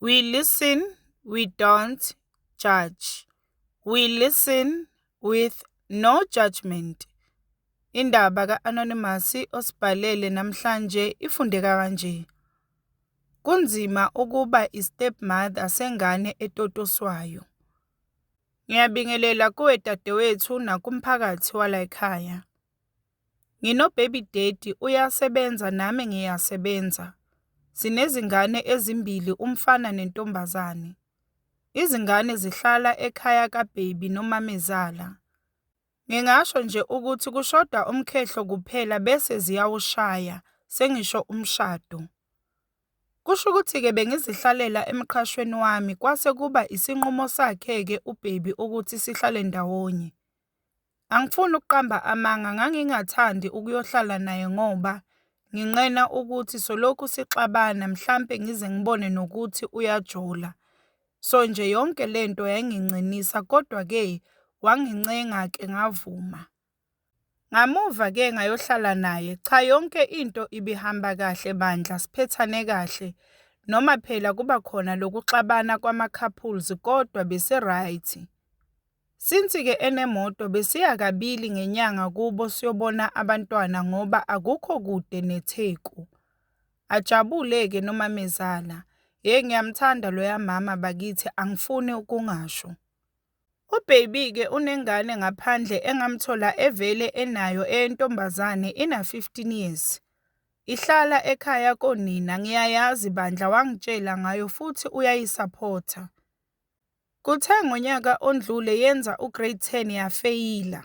We listen, we don't judge. We listen with no judgement. Indaba ka-Anonymous osibhalele namhlanje ifundeka kanje. Kunzima ukuba i-stepmother sengane etotoswayo. Ngiyabingelela kuwe dadewethu nakumphakathi walayikhaya. Ngino baby daddy uyasebenza nami ngiyasebenza. Sinezingane ezimbili umfana nentombazane. Izingane zihlala ekhaya ka baby nomamezala. Ngingasho nje ukuthi kushoda umkhehlo kuphela bese ziyawushaya sengisho umshado. Kusho ukuthi ke bengizihlalela emqhashweni wami kwase kuba isinqumo sakhe ke u baby ukuthi sihlale ndawonye. Angifuni ukuqamba amanga ngangingathandi ukuyohlala naye ngoba nginqena ukuthi solokhu sixabana mhlampe ngize ngibone nokuthi uyajola. So nje yonke le nto yayingincinisa kodwa-ke wangincenga-ke ngavuma. Ngamuva-ke ngayohlala naye, cha yonke into ibihamba kahle bandla siphethane kahle noma phela kuba khona lokuxabana kwama-couples kodwa besi-right. Since ke enemoto besiya kabili ngenyanga kubo siyobona abantwana ngoba akukho kude neTheku. Ajabule ke nomamezala. Hhey ngiyamthanda loya mama bakithi angifuni ukungasho. UBaby ke unengane ngaphandle engamthola evele enayo eyentombazane ina 15 years. Ihlala ekhaya konina ngiyayazi bandla wangitshela ngayo futhi uyayisaphotha. Kuthe ngonyaka ondlule yenza uGrade 10 yafeyila.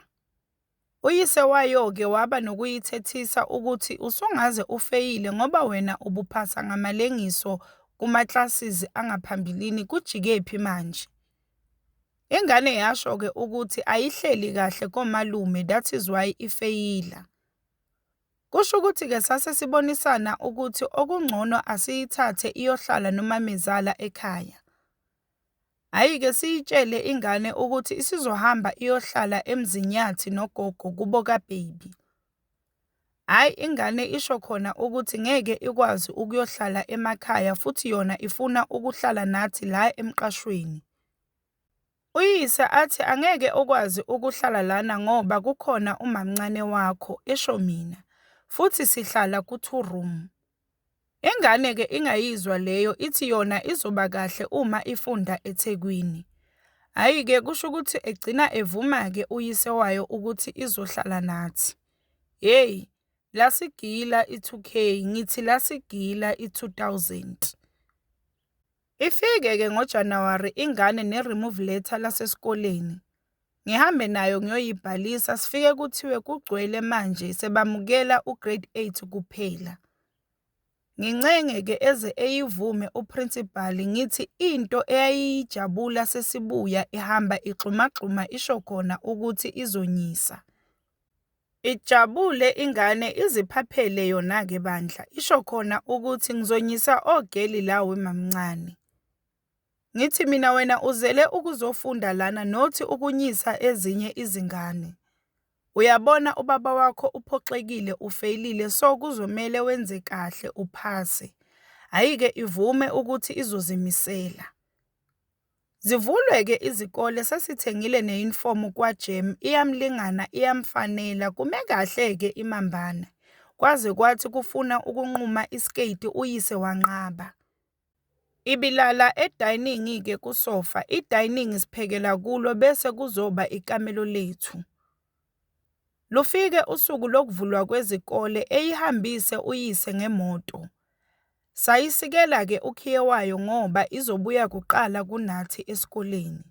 Uyise wayo-ke waba nokuyithethisa ukuthi usungaze ufeyile ngoba wena ubuphasa ngamalengiso kuma-classes angaphambilini kujikephi manje? Ingane yasho-ke ukuthi ayihleli kahle komalume that is why ifeyila. Kusho ukuthi-ke sase sibonisana ukuthi okungcono asiyithathe iyohlala nomamezala ekhaya. Hhayi ke siyitshele ingane ukuthi isizohamba iyohlala eMzinyathi nogogo kubo kaBaby. Hhayi ingane isho khona ukuthi ngeke ikwazi ukuyohlala emakhaya futhi yona ifuna ukuhlala nathi la emqashweni. Uyise athi angeke ukwazi ukuhlala lana ngoba kukhona umamncane wakho, esho mina, futhi sihlala ku-two room. Ingane ke ingayizwa leyo ithi yona izoba kahle uma ifunda eThekwini. Hhayi ke kusho ukuthi egcina evuma ke uyise wayo ukuthi izohlala nathi. Hhey lasigila i-2K ngithi lasigila i-2000. Ifike ke ngo January ingane ne remove letter lasesikoleni ngihambe nayo ngiyoyibhalisa sifike kuthiwe kugcwele manje sebamukela u grade 8 kuphela. Ngincenge ke eze eyivume u principal ngithi into eyayiyijabula sesibuya ihamba igxumagxuma isho khona ukuthi izonyisa. Ijabule ingane iziphaphele yona ke bandla isho khona ukuthi ngizonyisa ogeli la wemamncane. Ngithi mina wena uzele ukuzofunda lana not ukunyisa ezinye izingane. Uyabona ubaba wakho uphoxekile ufeyilile so kuzomele wenze kahle uphase. Hhayi ke ivume ukuthi izozimisela. Zivulwe-ke izikole sesithengile neyunifomu kwaGem iyamlingana iyamfanela kume kahle-ke iMambane. Kwaze kwathi kufuna ukunquma isketi uyise wanqaba. Ibilala edayiningi-ke kusofa, idayiningi siphekela kulo bese kuzoba ikamelo lethu. Lufike usuku lokuvulwa kwezikole eyihambise uyise ngemoto. Sayisikela-ke ukhiye wayo ngoba izobuya kuqala kunathi esikoleni.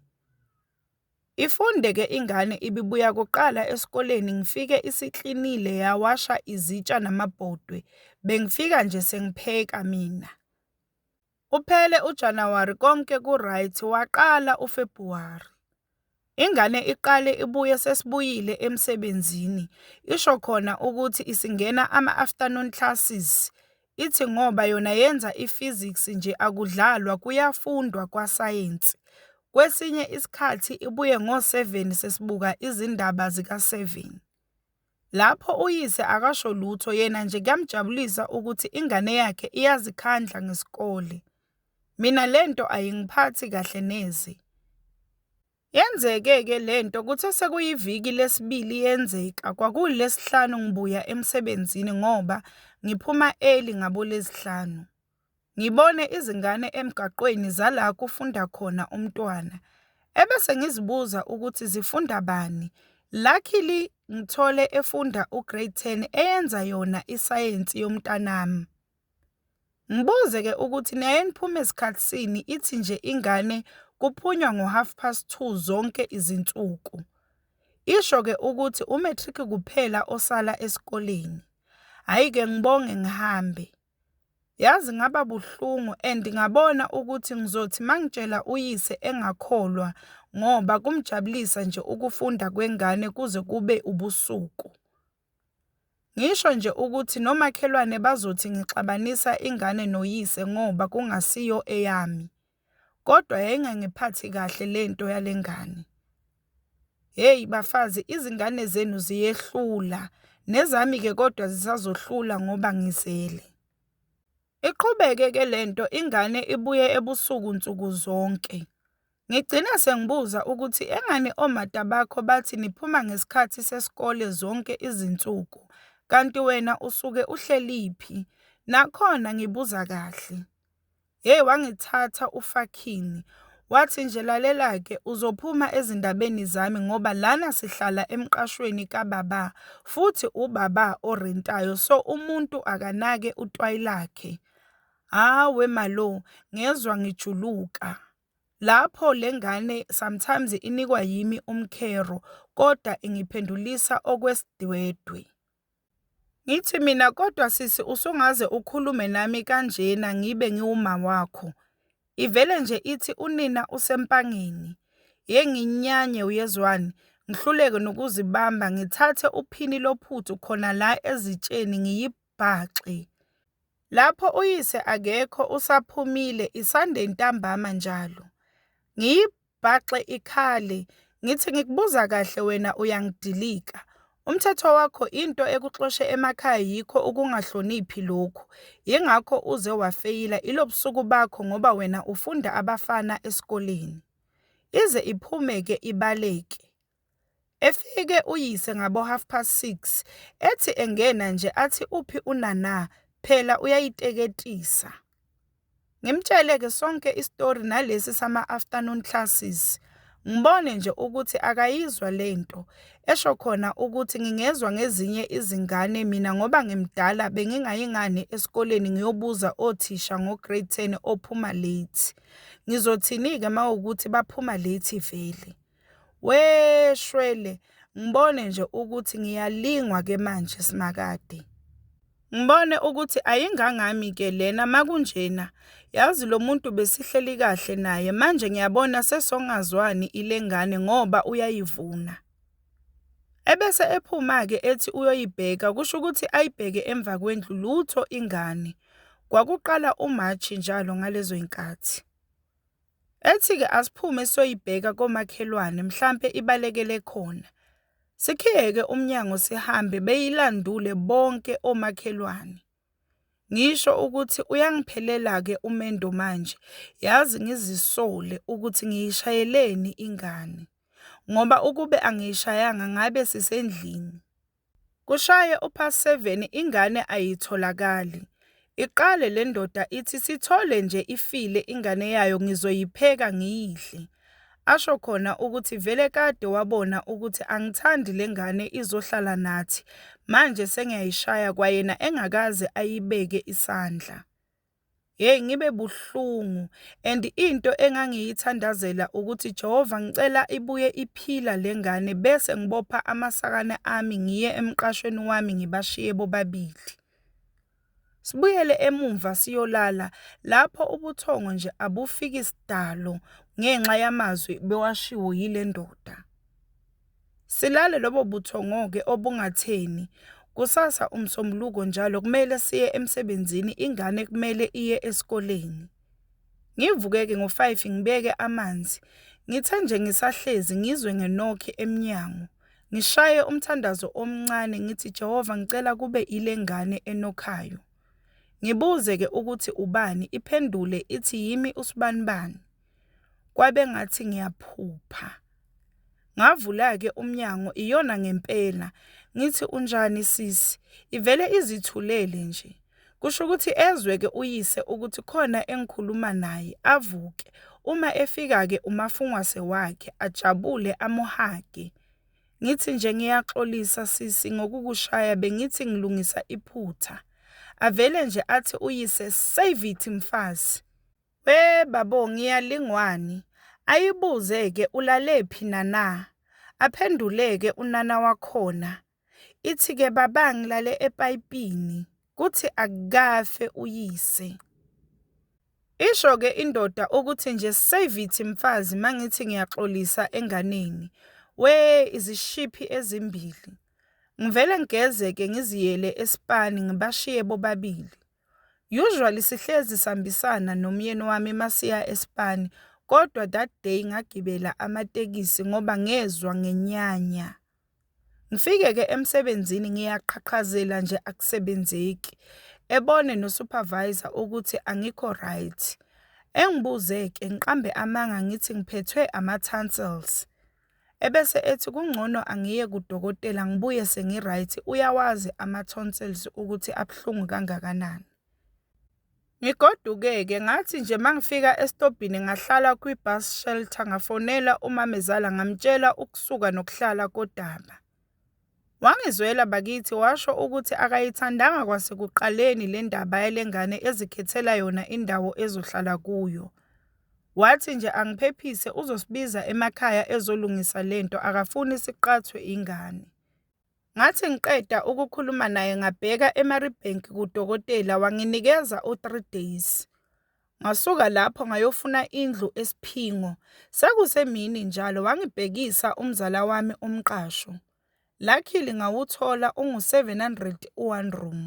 Ifunde-ke ingane ibibuya kuqala esikoleni ngifike isiklinile yawasha izitsha namabhodwe, bengifika nje sengipheka mina. Kuphele uJanuwari konke ku right waqala uFebhuwari. Ingane iqale ibuye sesibuyile emsebenzini isho khona ukuthi isingena ama afternoon classes ithi ngoba yona yenza i physics nje akudlalwa kuyafundwa kwa sayensi. Kwesinye isikhathi ibuye ngo seven sesibuka izindaba zika seven. Lapho uyise akasho lutho yena nje kuyamjabulisa ukuthi ingane yakhe iyazikhandla ngesikole. Mina le nto ayingiphathi kahle neze. Yenzeke-ke le nto kuthe sekuyiviki lesibili yenzeka, kwakuwulesihlanu ngibuya emsebenzini ngoba ngiphuma early ngaboLwezihlanu. ngibone izingane emgaqweni zala kufunda khona umntwana ebese ngizibuza ukuthi zifunda bani. Luckily ngithole efunda uGrade 10 eyenza yona isayensi yomntanami. Ngibuze-ke ukuthi niyayeniphuma esikhathisini ithi nje ingane kuphunywa ngo-half past two zonke izinsuku. Isho-ke ukuthi u-matric kuphela osala esikoleni. Hhayi-ke ngibonge ngihambe. Yazi ngaba buhlungu and ngabona ukuthi ngizothi mangitshela uyise engakholwa ngoba kumjabulisa nje ukufunda kwengane kuze kube ubusuku. Ngisho nje ukuthi nomakhelwane bazothi ngixabanisa ingane noyise ngoba kungasiyo eyami. Kodwa yayingangiphathi kahle lento yalengane. Hey bafazi izingane zenu ziyehlula nezami ke kodwa zisazohlula ngoba ngizele. Iqhubeke ke lento ingane ibuye ebusuku nsuku zonke. Ngigcina sengibuza ukuthi engani omata bakho bathi niphuma ngesikhathi sesikole zonke izinsuku kanti wena usuke uhleliphi? Nakhona ngibuza kahle. Hey wangithatha ufakhini wathi nje lalelake uzophuma ezindabeni zami ngoba lana sihlala emqashweni kababa futhi ubaba orentayo so umuntu akanake utwayi lakhe. Hawe malo ngezwa ngijuluka. Lapho lengane sometimes inikwa yimi umkhero kodwa ingiphendulisa okwesidwedwe. Ngithi mina kodwa sisi usungaze ukhulume nami kanjena ngibe ngiwumawakho. Ivele nje ithi unina usempangeni. Yey nginyanye uyezwani, ngihluleke nokuzibamba ngithathe uphini lophuthu khona la ezitsheni ngiyibhaxe. Lapho uyise akekho usaphumile isande ntambama njalo. ibhaxe ikhale ngithi ngikubuza kahle wena uyangidilika umthetho wakho into ekuxoshe emakhaya yikho ukungahloniphi lokhu yingakho uze wafeyila ilobusuku bakho ngoba wena ufunda abafana esikoleni ize iphume ke ibaleke Efike uyise ngabo half past six ethi engena nje athi uphi uNana phela uyayiteketisa. Ngimtshele ke sonke isitori nalesi sama afternoon classes ngibone nje ukuthi akayizwa lento esho khona ukuthi ngingezwa ngezinye izingane mina ngoba ngimdala bengingayi ngani esikoleni ngiyobuza othisha ngo grade ten ophuma late. Ngizothini-ke mawukuthi baphuma late vele? Wee shwele ngibone nje ukuthi ngiyalingwa ke manje simakade. Ngibone ukuthi ayingangami ke lena makunjena yazi lo muntu besihleli kahle naye manje ngiyabona sesongazwani ilengane ngoba uyayivuna. Ebese ephuma-ke ethi uyoyibheka kusho ukuthi ayibheke emva kwendlu lutho ingane. Kwakuqala uMarch njalo ngalezo y'nkathi. Ethi-ke asiphume siyoyibheka komakhelwane mhlampe ibalekele khona. Sikhiyeke umnyango sihambe beyilandule bonke omakhelwane. Ngisho ukuthi uyangiphelela-ke umendo manje yazi ngizisole ukuthi ngiyishayeleni ingane ngoba ukube angiyishayanga ngabe sisendlini. Kushaye upast seven ingane ayitholakali. Iqale lendoda ithi sithole nje ifile ingane yayo ngizoyipheka ngiyidle. Asho khona ukuthi vele kade wabona ukuthi angithandi lengane izohlala nathi manje sengiyayishaya kwayena engakaze ayibeke isandla. Hey ngibe buhlungu and into engangiyithandazela ukuthi Jehova ngicela ibuye iphila lengane bese ngibopha amasakana ami ngiye emqashweni wami ngibashiye bobabili. Sibuyele emumva siyolala lapho ubuthongo nje abufiki sidalo ngenxa yamazwi bewashiwo yile ndoda. Silale lobo buthongo-ke obungatheni. Kusasa uMsombuluko njalo kumele siye emsebenzini, ingane kumele iye esikoleni. Ngivuke-ke ngo-five ngibeke amanzi. Ngithe nje ngisahlezi ngizwe ngenokhi emnyango. Ngishaye umthandazo omncane ngithi Jehova ngicela kube ile ngane enokhayo. Ngibuze-ke ukuthi ubani, iphendule ithi yimi usibanibani. kwabengathi ngiyaphupha ngavula-ke umnyango iyona ngempela ngithi unjani sisi ivele izithulele nje kusho ukuthi ezwe-ke uyise ukuthi khona engikhuluma naye avuke uma efika-ke umafungwase wakhe ajabule amuhage ngithi nje ngiyaxolisa sisi ngokukushaya bengithi ngilungisa iphutha avele nje athi uyise save it mfazi We babo ngiyalingwani ayibuze ke ulalephi nana aphenduleke unana wakhona ithi ke baba ngilale epayipini kuthi akukafe uyise Isho ke indoda ukuthi nje save it mfazi mangithi ngiyaxolisa enganeni we izishiphi ezimbili ngivele ngigeze ke ngiziyele espani ngibashiye bobabili Usually sihlezi sihambisana nomyeni wami masiya eSpan kodwa that day ngagibela amatekisi ngoba ngezwa ngenyanya. Ngifike-ke emsebenzini ngiyaqhaqhazela nje akusebenzeki, ebone no-supervisor ukuthi angikho right. Engibuze-ke ngiqambe amanga ngithi ngiphethwe ama-tonsils. Ebese ethi kungcono angiye kudokotela ngibuye sengi-right, uyawazi ama-tonsils ukuthi abuhlungu kangakanani. Ngigoduke-ke ngathi nje uma ngifika esitobhini ngahlala kwi-bus shelter, ngafonela umamezala ngamtshela ukusuka nokuhlala kodaba. Wangizwela bakithi washo ukuthi akayithandanga kwasekuqaleni le ndaba yale ngane ezikhethela yona indawo ezohlala kuyo. Wathi nje angiphephise uzosibiza emakhaya ezolungisa le nto akafuni siqhathwe ingane. Ngathi ngiqeda ukukhuluma naye ngabheka eMaribank kudokotela wanginikeza u-three days. Ngasuka lapho ngayofuna indlu eSiphingo. Sekusemini njalo wangibhekisa umzala wami umqasho. Luckily ngawuthola ungu-700 u-one room.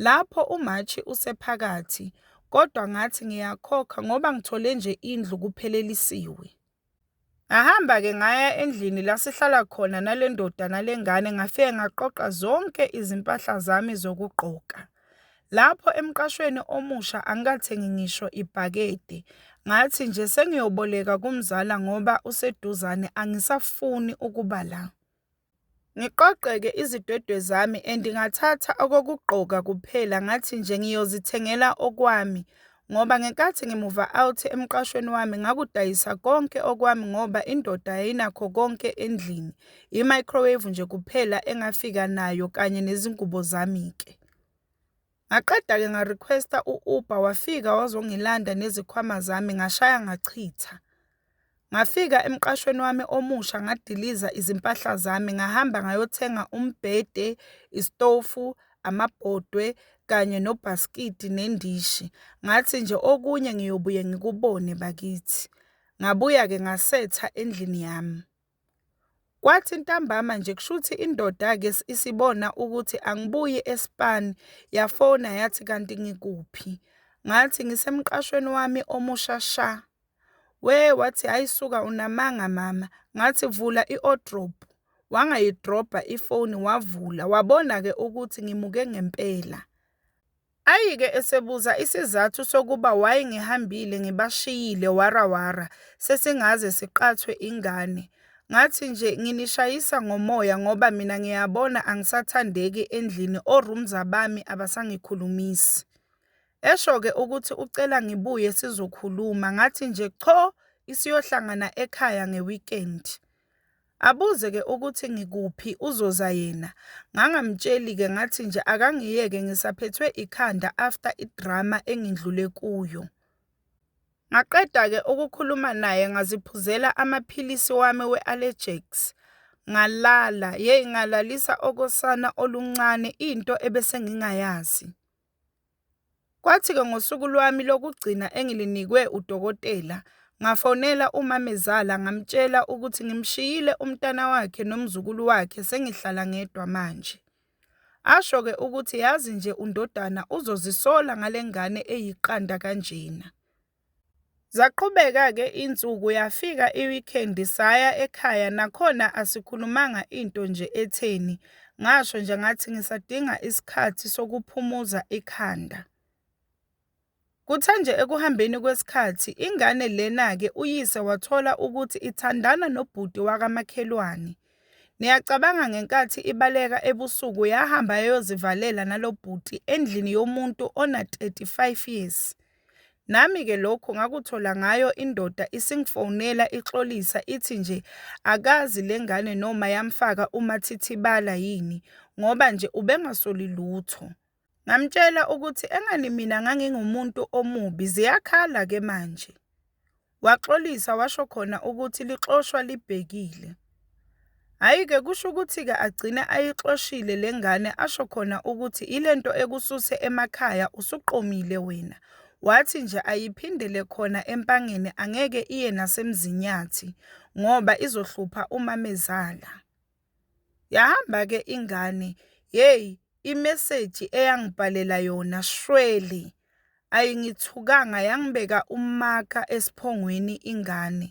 Lapho uMashi usephakathi kodwa ngathi ngiyakhokha ngoba ngithole nje indlu kuphelelisiwe. Ngahamba-ke ngaya endlini la sihlala khona nale ndoda nale ngane, ngafike ngaqoqa zonke izimpahla zami zokugqoka. Lapho emqashweni omusha angikathengi ngisho ibhakede. Ngathi nje sengiyoboleka kumzala ngoba useduzane, angisafuni ukuba la. Ngiqoqe-ke izidwedwe zami and ngathatha okokugqoka kuphela ngathi nje ngiyozithengela okwami ngoba ngenkathi ngimuva out emqashweni wami ngakudayisa konke okwami ngoba indoda yayinakho konke endlini, i-microwave nje kuphela engafika nayo kanye nezingubo zami-ke. Ngaqeda-ke nga-request-a u-Uber wafika wazongilanda nezikhwama zami ngashaya ngachitha. Ngafika emqashweni wami omusha ngadiliza izimpahla zami ngahamba ngayothenga umbhede, isitofu, amabhodwe kanye nobhaskidi nendishi. Ngathi nje okunye ngiyobuye ngikubone bakithi. Ngabuya-ke ngasetha endlini yami. Kwathi ntambama nje kushuthi indoda ke isibona ukuthi angibuyi eSpan yafona yathi kanti ngikuphi ngathi ngisemqashweni wami omusha sha, we wathi hhayi suka unamanga mama ngathi vula i-wardrobe wangayidrobha ifoni wavula wabona-ke ukuthi ngimuke ngempela. Ayike esebuza isizathu sokuba why ngihambile ngibashiyile wara wara sesingaze siqathwe ingane. Ngathi nje nginishayisa ngomoya ngoba mina ngiyabona angisathandeki endlini oRumza bami abasangikhulumisi. Esho ke ukuthi ucela ngibuye sizokhuluma ngathi nje cho isiyohlangana ekhaya ngeweekend. Abuze ke ukuthi ngikuphi uzoza yena ngangamtsheli ke ngathi nje akangiyeke ngisaphethwe ikhanda after idrama engindlule kuyo. Ngaqeda ke ukukhuluma naye ngaziphuzela amaphilisi wami we-Allegex ngalala yeyi ngalalisa okosana oluncane into ebesengingayazi. Kwathi-ke ngosuku lwami lokugcina engilinikwe udokotela, ngafonela umamezala ngamtshela ukuthi ngimshiyile umntana wakhe nomzukulu wakhe sengihlala ngedwa manje. Asho-ke ukuthi yazi nje undodana uzozisola ngale ngane eyiqanda kanjena. Zaqhubeka ke insuku yafika I weekend saya ekhaya nakhona asikhulumanga into nje etheni ngasho nje ngathi ngisadinga isikhathi sokuphumuza ikhanda. Kuthe nje ekuhambeni kwesikhathi ingane lena ke uyise wathola ukuthi ithandana nobhuti wakamakhelwane. Niyacabanga ngenkathi ibaleka ebusuku yahamba yayozivalela nalobhuti endlini yomuntu ona 35 years. Nami ke lokho ngakuthola ngayo indoda isingifonela ixolisa ithi nje akazi lengane noma yamfaka umathithibala yini ngoba nje ubengasoli lutho. Ngamtshela ukuthi engani mina ngangingumuntu omubi ziyakhala ke manje. Waxolisa washo khona ukuthi lixoshwa libhekile. Hhayi ke kusho ukuthi ke agcine ayixoshile lengane asho khona ukuthi ilento ekususe emakhaya usuqomile wena wathi nje ayiphindele khona eMpangeni angeke iye naseMzinyathi ngoba izohlupha umamezala. Yahamba ke ingane yey imessage eyangibhalela yona shwele ayingithukanga yangibeka umaka esiphongweni ingane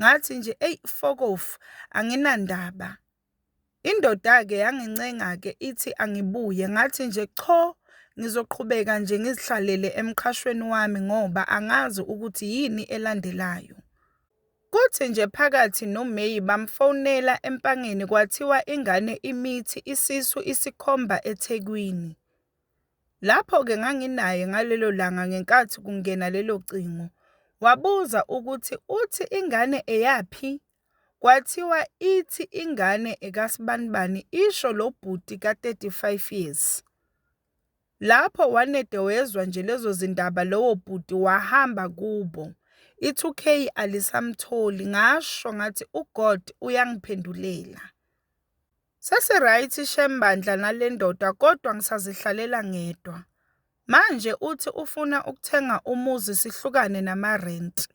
ngathi nje eyi fokofu anginandaba. Indoda ke yangincenga ke ithi angibuye ngathi nje cho ngizoqhubeka nje ngizihlalele emqhashweni wami ngoba angazi ukuthi yini elandelayo. Kuthi nje phakathi noMeyi bamfonela eMpangeni kwathiwa ingane imithi isisu isikhomba eThekwini. Lapho-ke nganginaye ngalelo langa ngenkathi kungena lelo cingo. Wabuza ukuthi uthi ingane eyaphi? Kwathiwa ithi ingane ekasibanibani, isho lo bhuti ka-35 years. Lapho wanede wezwa nje lezo zindaba lowo bhuti wahamba kubo. I-2K alisamtholi ngasho ngathi uGod uyangiphendulela. Sesiright shem bandla nalendoda kodwa ngisazihlalela ngedwa. Manje uthi ufuna ukuthenga umuzi sihlukane nama rent.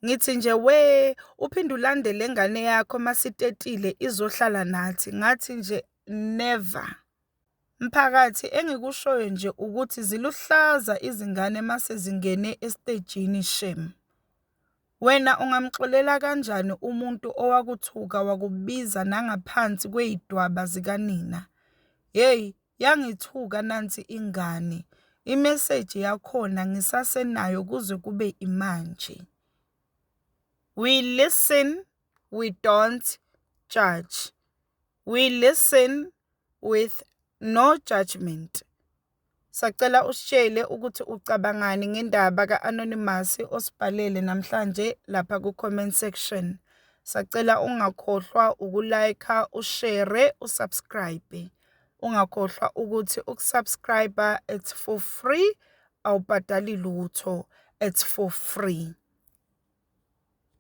Ngithi nje we uphinde ulandele ingane yakho masitetile izohlala nathi ngathi nje never. Mphakathi engikushoyo nje ukuthi ziluhlaza izingane mase zingene estejini shem. Wena ungamxolela kanjani umuntu owakuthuka wakubiza nangaphansi kwey'dwaba zikanina. Hheyi yangithuka nansi ingane, imeseji yakhona ngisasenayo kuze kube imanje. We listen we don't judge, we listen with no judgement. Sacela usitshele ukuthi ucabangani ngendaba ka-anonymous osibhalele namhlanje lapha ku-comment section. Sacela ungakhohlwa ukulayikha, ushere, usubscribe. Ungakhohlwa ukuthi ukusubscribe it's for free, awubhadali lutho, it's for free.